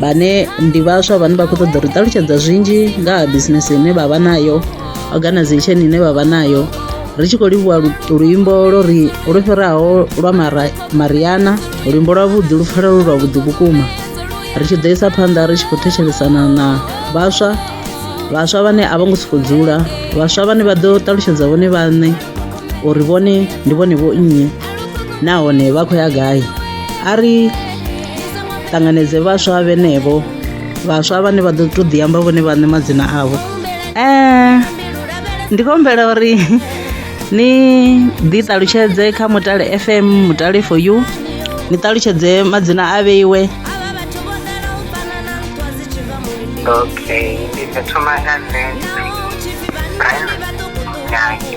vhane ndi vhaswa vhane vha khou ṱoḓa uri ṱalutshedza zwinzhi nga ha bisinese ine vha vha nayo organization ine vha vha nayo ri tshi khou livhuwa luimbo lwo ri lwo fhiraho lwa mariana luimbo lwavhuḓi lu pfala lu lwavhuḓi vhukuma ri tshi ḓo isa phanḓa ri tshi khou thetshelesana na vhaswa vhaswa vhane a vho ngo sokou dzula vhaswa vhane vha ḓo ṱalutshedza vhone vhaṋe uri vhone ndi vhone vho nnyi nahone vha khou ya gai a ri ṱanganedze vhaswa vhenevho vhaswa vhane vha ḓo tou ḓi amba vhone vhaṋe madzina avho um ndi khou humbela uri ni ḓi ṱalutshedze kha mutale fm mutale for you ni ṱalutshedze madzina a vheiwe okay ndi ḓo thoma nga nṋe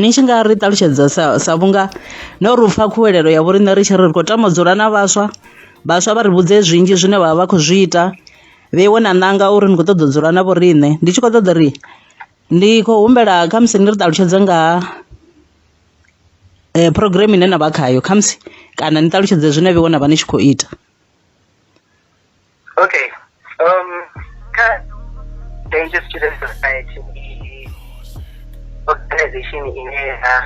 Ni tshi nga ri ṱalutshedza sa sa vhunga no ri upfa khuwelelo ya vhoriṋe ri tshi ri ri khou tama u dzula na vhaswa, vhaswa vha ri vhudze zwinzhi zwine vhavha vha khou zwi ita vhe iwe na ṋanga uri ni kho ṱoḓa u dzula na vho riṋe ndi tshi kho ṱoḓa uri ndi khou humbela kha musi ni ri ṱalutshedze nga ha phurogireme ine navha khayo khamusi kana ni ṱalutshedze zwine vheiwe na vha ni tshi khou ita. Okay. Um, ka Danger Student Society ndi organization ine ya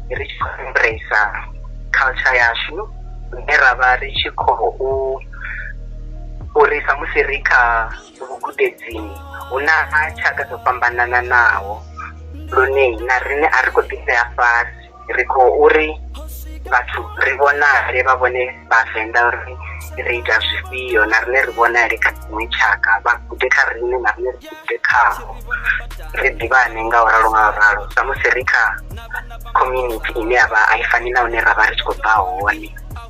ri tshi khou embrace culture yashu ine ra vha ri tshi khou uri samusi ri kha vhugudedzini hu na tshaka dzo fhambanananaho lune na riṋe a ri khou ḓisea fhasi ri khou uri vhathu ri vhonale vha vhone vhavenḓa uri ri ita zwifhio na rine ri vhonale kha dziṅwe tshaka vha gude kha rine na rine ri gude khaho ri ḓivhane nga u ralo nga u ralo samusi ri kha community ine ya vha a i fani na hune ra vha ri tshi khou bva hone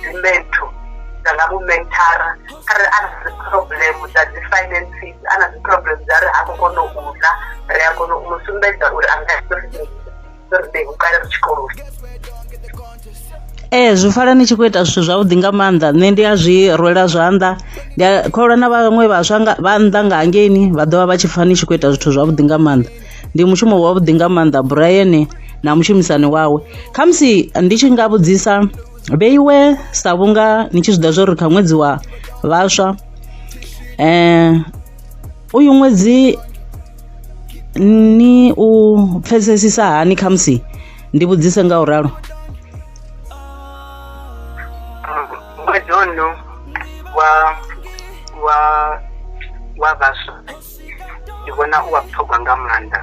dzi mentor dza nga mu mentora kharali a na dzi problem dza dzi finances a na dzi problem dza ri ha khou kona u ḽa ri a kona u mu sumbedza uri a nga ri u kale ri tshikoloni ee zwi pfala ni tshi khou ita zwithu zwavhuḓi nga maanḓa nṋe ndi a zwi rwela zwanḓa ndi a kholwa na vhaṅwe vhaswa vha nnḓa nga hangeini vha ḓovha vha tshi pfha ni tshi khou ita zwithu zwavhuḓi nga maanḓa ndi mushumo wavhuḓi nga maanḓa Brian na mushumisani wawe khamusi ndi tshi nga vhudzisa vheiwe sa vhunga ni tshi zwiḓivha zwori kha ṅwedzi wa vhaswa uyu ṅwedzi ni u pfesesisa hani khamusi ndi vhudzise nga u ralo ṅwedzi ono wa wa wa vhaswa ndi vhona u wa vhuṱhogwa nga maanḓa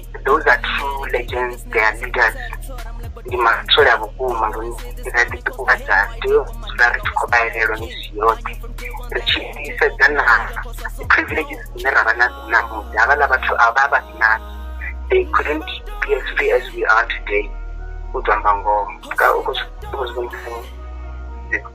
those are true legends they are leaders ndi matsole a vhukuma lune ra ḓi ṱuṱuwedza tea u dzula ri tshi khou vha elelwa misi yoṱhe ri tshi sedza na privileges dzine ra vha nadzo ṋamusi havhaḽa vhathu a vha vha si nadzo they couldn't be as free as we are today u tou amba ngoho u khou zwi vhonisa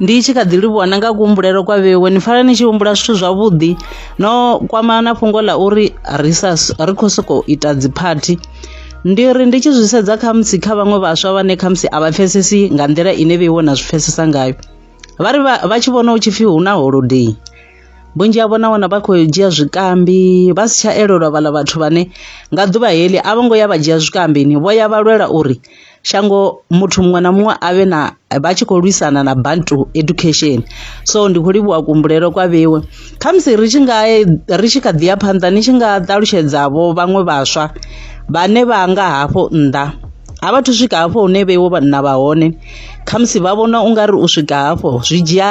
ndi tshi kha ḓi livhuwa na nga kuhumbulelo kwa vhewe ni pfala ni tshi humbula zwithu zwavhuḓi no kwama na fhungo ḽa uri ri sa ri khou sokou ita dziphathi ndi ri ndi tshi zwi sedza khamusi kha vhaṅwe vhaswa vhane khamusi a vha pfesesi nga nḓila ine vheiwe na zwi pfesesa ngayo vha ri vha tshi vhona u tshi pfhi hu na holodei vhunzhi havho na wana vha khou dzhia zwikambi vha si tsha elelwa vhaḽa vhathu vhane nga ḓuvha heḽi a vho ngo ya vha dzhia zwikambini vho ya vha lwela uri shango muthu muṅwe na muṅwe a vhe na vha tshi khou lwisana na bantu education so ndi khou livhuwa kuhumbulelo kwa vhewe khamusi ri tshi nga ri tshi kha ḓi ya phanḓa ni tshi nga ṱalutshedza vho vhaṅwe vhaswa vhane vha nga hafho nnḓa a vhathu swika hafho hune vheiwo vhanna vha hone khamusi vha vhona ungari u swika hafho zwi dzhia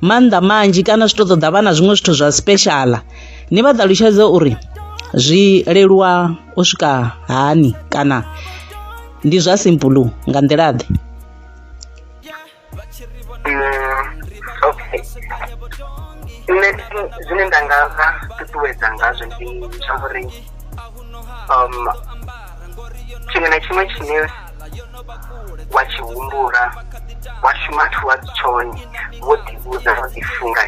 maanḓa manzhi kana zwi to ṱoḓa vha na zwiṅwe zwithu zwa special ni vha ṱalutshedze uri zwi leluwa u swika hani kana ndi zwa simple nga nḓila ḓe nṋe zwine nda nga vha ṱuṱuwedza ngazwo ndi tsha uri um tshiṅwe na tshiṅwe tshine wa tshi humbula wa shuma thu wa si tshone wo ḓivhudza wo ḓifunga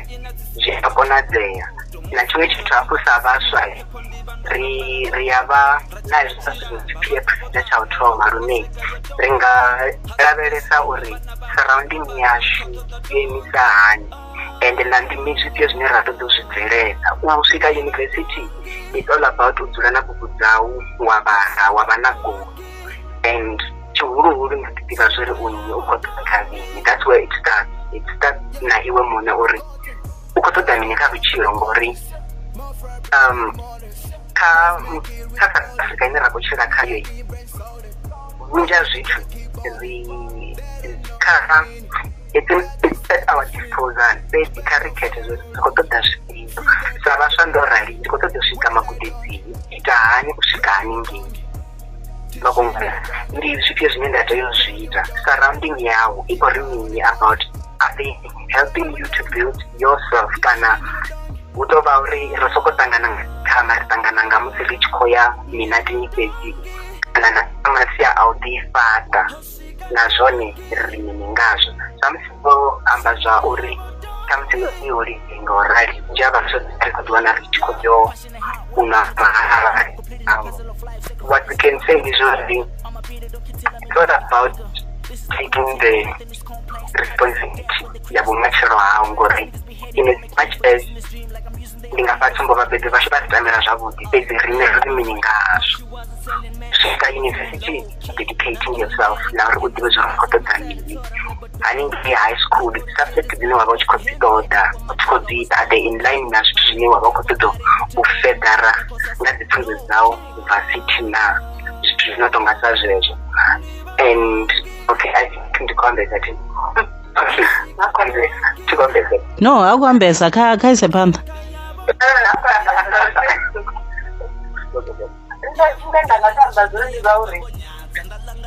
zwi a konadzea na tshiṅwe tshithu hafhu sa vhaswa ri ri ya vha na hezwi sa zwithu dzi p f na tsha u thoma lune ri nga lavhelesa uri surrounding yashu yo imisa hani and na ndi mizwifhio zwine ra ṱoḓa u zwi bvelela u swika university it's all about u dzula na bugu dzau wa vhala wa vha na goal and tshihuluhulu na ḓi ḓivha zwo ri u nnyi u khou ṱoḓa kha mini that's where it starts it starts na iwe muṋe uri u khou ṱoḓa mini kha vhutshilo ngori um kha kha south africa ine ra khou tshila khayo vhunzhi ha zwithu ri kha it's at our disposal fhedzi kha ri khethe zwo ri khou ṱoḓa zwifhio sa vhaswa ndo rali ndi khou ṱoḓa u swika magudedzini ita hani u swika haningei makongana ndi zwifhio zwine nda tea u zwi ita surrounding yau i khou ri mini about i think helping you to build yourself kana hu tou vha uri ri soko ṱangana kana ri ṱangana nga musi ri tshi khou ya minatini fhedzi kana na masia a u ḓifhaṱa na zwone ri mini ngazwo samusi vho amba zwa uri khamusi i holidei nga u rali nzhi a vhaswa ri khou ḓiwana ri tshi khou yo una mahali um, what we can say is only it's not about taking the responsibility ya vhumatshelo hau ngori in as much as ndi nga fha tsumbo vhabebi vhashu vha ri tamela zwavhuḓi fhedzi rine ri mini ngazwo swika yunivesithi dedicating yourself na uri u ḓivhe zwa uri khou ṱoḓa mini haningei high school ndi dzi subject dzine wa vha u tshi khou dzi ṱoḓa u tshi khou dzi ita the in line na zwithu zwine wa vha u khou ṱoḓa u fedara nga dzi pfunzo dzau bva city na zwithu zwino tou nga sa zwezwo and okay i think ndi khou ambedza thi nga khou ambedza thi khou ambedza no ha khou ambedza kha kha ise phanḓa Nṋe zwine nda nga to amba zwone ndi zwa uri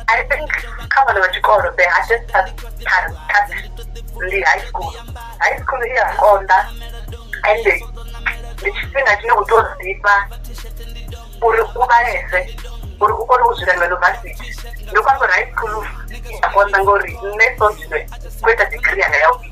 I think kha vhana vha tshikolo the hardest part part ndi high school. High school i ya konḓa ende ndi tshifhinga tshine u tea u ḓifha uri u vhalese uri u kone u swika university. Ndi khou amba uri high school i ya konḓa ngori nṋe so zwino ndi kho ita degree yanga ya vhuvhili.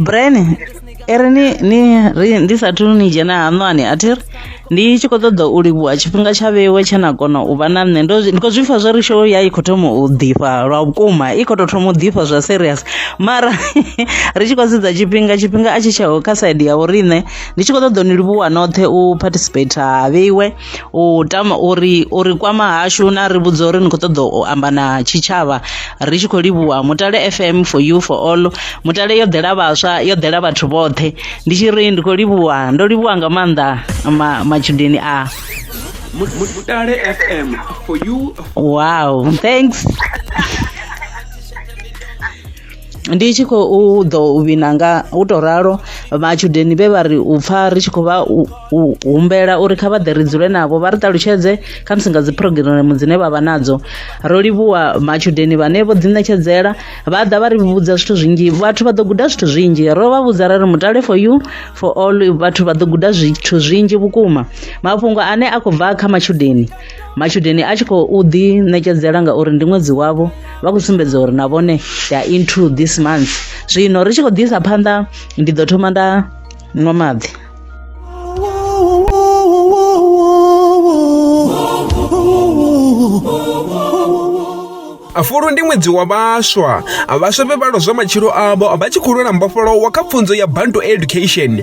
brain i ri ni ni ri ndi sathu ni dzhena haṋwani a thi ri ndi tshi khou ṱoḓa u livhuwa tshifhinga tsha vhewe tshe na kona u vha na nṋe ndo zwi- ndi khou zwi pfha zwo ri show ya i khou thoma u ḓifha lwa vhukuma i khou tou thoma u ḓifha zwa serious mara ri tshi khou sedza tshifhinga tshifhinga a tshi tsheho kha side ya vho riṋe ndi tshi khou ṱoḓa u ni livhuwa noṱhe u participate ha vheiwe u tama uri uri kwama hashu na ri vhudza uri ni kho ṱoḓa u amba na tshitshavha ri tshi khou livhuwa mutale fm for you for all mutale yo ḓela vhaswa yo ḓela vhathu vhoṱhe ndi tshi ri ndi khou livhuwa ndo livhuwa nga maanḓa matshudeni a mutale fm for you wow thanks Ndi tshi khou ḓo vhina nga u to ralo matshudeni vhe vha ri u pfa ri tshi khou vha humbela uri kha vha ḓe ri dzule navho vha ri ṱalutshedze kha musi nga dzi phurogiremu dzine vha vha nadzo ro livhuwa matshudeni vhane vho ḓi ṋetshedzela vha ḓa vha ri vhudza zwithu zwinzhi vhathu vha ḓo guda zwithu zwinzhi ro vha vhudza ra ri mutale for you for all vhathu vha ḓo guda zwithu zwinzhi vhukuma mafhungo ane a khou bva kha matshudeni. matshudeni a tshi khou ḓi ṋekedzela ngauri ndi ṅwedzi wavho vha khou sumbedza uri na vhone they are into this month zwino ri tshi khou ḓisa phanḓa ndi ḓo thoma nda nwa maḓi afulu ndi ṅwedzi wa vhaswa vhaswa vhe vha lozwa matshilo avho vha tshi khou lwela mbofholowo kha pfunzo ya bantu education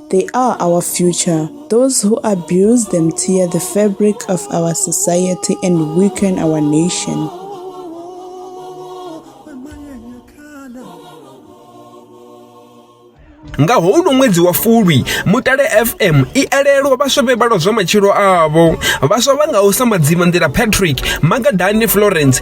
They are our future. Those who abuse them tear the fabric of our society and weaken our nation. nga houno ṅwedzi wa fulwi mutale fm i elelwa vhaswa vhe vhalwa zwa matshilo avho vhaswa vha ngaho sa madzima nḓila patrick magadani florence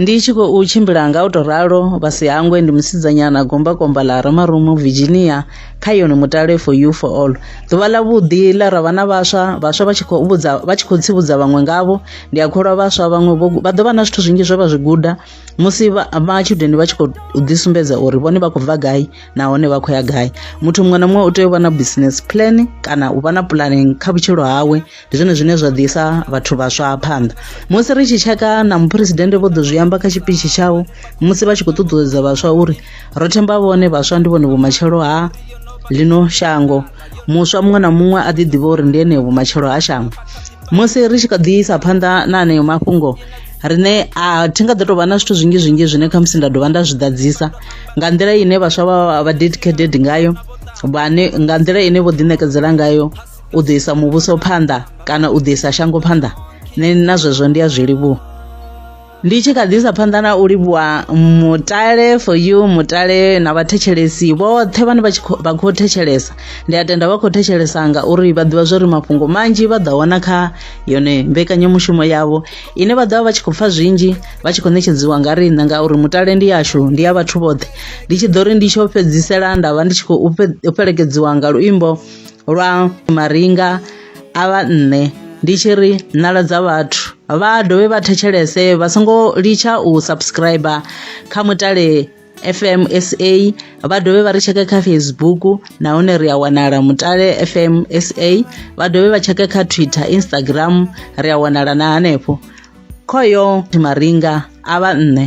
ndi tshi khou tshimbila nga u tou ralo vhasi hangwe ndi musidzanyana gombakomba ḽa ramarumu virginia kha yone mutale for you for all ḓuvha ḽa vhuḓi ḽa ra vha na vhaswa vhaswa vha tshi khou vhudza vha tshi khou tsivhudza vhaṅwe ngavho ndi a kholwa vhaswa vhaṅwe vha ḓo vha na zwithu zwinzhi zwe vha zwi guda musi vha matshudeni vha tshi khou ḓisumbedza uri vhone vha khou bva gai nahone vha khou ya gai muthu muṅwe na muṅwe u tea u vha na business plan kana u vha na pulani kha vhutshilo hawe ndi zwone zwine zwa ḓisa vhathu vhaswa phanḓa musi ri tshi tsheka na muphuresidennde vho ḓo zwi amba kha tshipitshi tshawo musi vha tshi khou ṱuṱuwedza vhaswa uri ro themba vhone vhaswa ndi vhone vhumatshelo ha ḽino shango muswa muṅwe na muṅwe a ḓi ḓivha uri ndi ene vhumatshelo ha shango musi ri tshi kha ḓi isa phanḓa na aneyo mafhungo riṋe a thi nga ḓo tou vha na zwithu zwinzhi zwinzhi zwine khamusi nda dovha nda zwi ḓadzisa nga nḓila ine vhaswa vha vha dedicated ngayo vhane nga nḓila ine vho ḓiṋekedzela ngayo u ḓo isa muvhuso phanḓa kana u ḓo isa shango phanḓa nṋe na zwezwo ndi a zwi livhuwa ndi tshi kha ḓisa phanḓa na u livhuwa mutale for you mutale na vhathetshelesi vhoṱhe vhane vha vha khou thetshelesa ndi a tenda vha khou thetshelesa ngauri vha ḓivha zwori mafhungo manzhi vha ḓo wana kha yone mbekanyamushumo yavho ine vha ḓovha vha tshi khou pfa zwinzhi vha tshi khou netshedziwa nga riṋe ngauri mutale ndi yashu ndi ya vhathu vhoṱhe ndi tshi ḓo ri ndi tsho fhedzisela nda vha ndi tshi khou fhelekedziwa nga luimbo lwa maringa a vha nṋe ndi tshi ri nala dza vhathu vha dovhe vha thetshelese vha songo litsha u subscriber kha mutale FMSA vha dovhe vha ri tsheke kha Facebook nahone ri a wanala mutale FMSA vha dovhe vha tsheke kha Twitter Instagram ri a wanala na hanefho khoyo maringa a vha nṋe